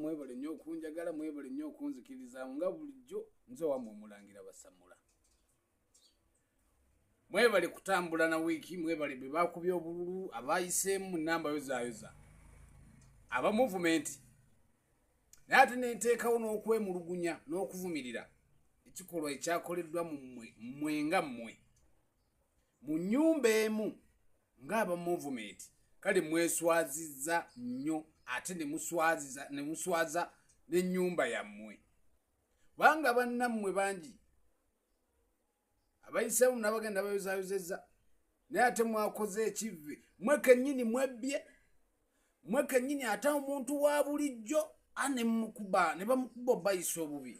mwebale nnyo okunjagala mwebale nnyo okunzikirizamu nga bulijjo nze wamwe omulangira basamula mwebale kutambula na wiiki mwebale be bakubye obululu abayiseemu namba yozayoza aba muvumenti naye ate nenteekawo n'okwemulugunya n'okuvumirira ekikolwa ekyakoleddwa mu mmwe mmwe nga mmwe mu nyumba emu ng'aba movement kale mweswaziza nnyo ate nemuswaziza nemuswaza n'ennyumba yammwe kubanga bannammwe bangi abayisaamu nabagenda bayozayozeza naye ate mwakoze ekivve mwe kennyini mwebbye mwe kennyini ate omuntu wa bulijjo a nemukuba ne bamukuba obayisa obubi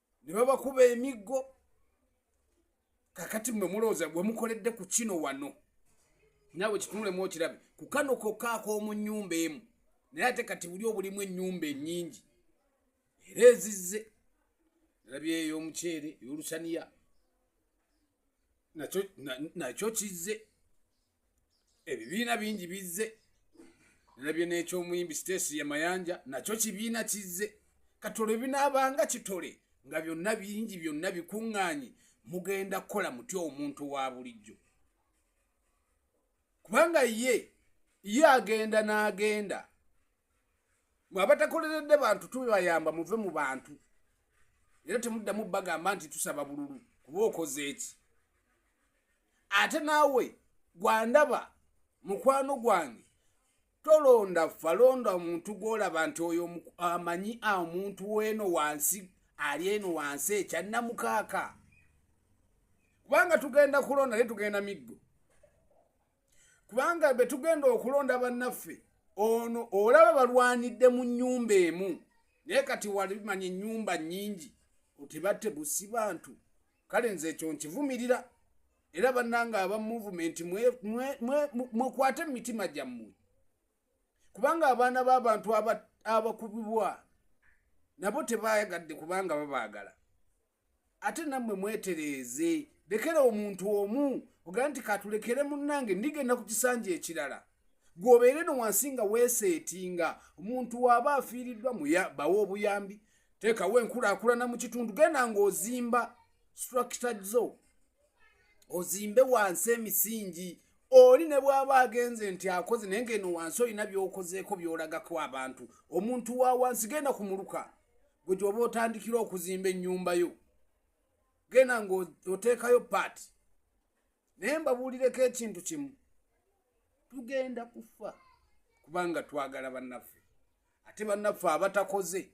ne babakuba emiggo kakati mwe mulowooza bwe mukoledde ku kino wano naawe kitunulemu okirabe ku kano kokka ak'omu nnyumba emu naye ate kati buli obulimu ennyumba ennyingi era ezizze nalabye ey'omuceere ey'olusaniya nakyo kizze ebibiina bingi bizze nalabye n'ekyomuyimbi sitesi ye mayanja nakyo kibiina kizze katole binaabanga kitole nga byonna bingi byonna bikuŋŋaanyi mugenda kukola mutya omuntu wa bulijjo kubanga ye ye agenda n'agenda mwe abatakoleredde bantu tubayamba muve mu bantu era temuddamu bagamba nti tusaba bululu kuba okoze eki ate naawe gwandaba mukwano gwange tolonda ffa londa omuntu gwolaba nti oyo amanyi omuntu weeno wansi ali eno wansi ekyannamukaaka kubanga tugenda kulonda naye tugenda miggo kubanga be tugenda okulonda bannaffe ono olaba balwanidde mu nnyumba emu naye kati walimanya ennyumba nnyingi otibatte busi bantu kale nze ekyo nkivumirira era bannange aba muvumenti mwekwate mu mitima gyammwe kubanga abaana b'abantu abakubibwa nabo tebayagadde kubanga babaagala ate nammwe mwetereeze lekera omuntu omu ogaa nti katulekere munnange ndigenda ku kisanja ekirala gwobeere no wansi nga weeseetinga omuntu waaba afiiriddwa bawa obuyambi teekawo enkulaakulana mu kitundu genda ng'ozimba structure zo ozimbe wansi emisingi oli ne bw'aba agenze nti akoze naye ng'eno wansi olina by'okozeeko by'olagako abantu omuntu wa wansi genda ku muluka gwe gyoba otandikira okuzimba ennyumba yo genda ng'oteekayo paati naye mbabuulireko ekintu kimu tugenda kufa kubanga twagala bannaffe ate bannaffe abatakoze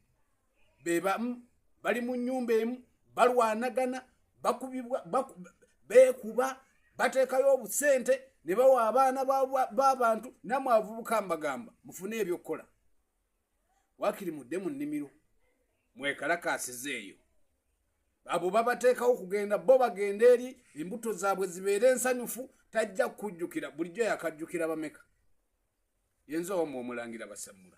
bebamu bali mu nyumba emu balwanagana bakubibwa beekuba bateekayo obusente ne bawa abaana b'abantu namwe avubuka mbagamba mufune ebyokukola wakiri mudde mu nnimiro mwekalakaasiza eyo abo babateekawo kugenda bo bagenda eri embuto zaabwe zibeere ensanyufu tajja kukujjukira bulijjo yakajjukira bameka yenza omu omulangira basamula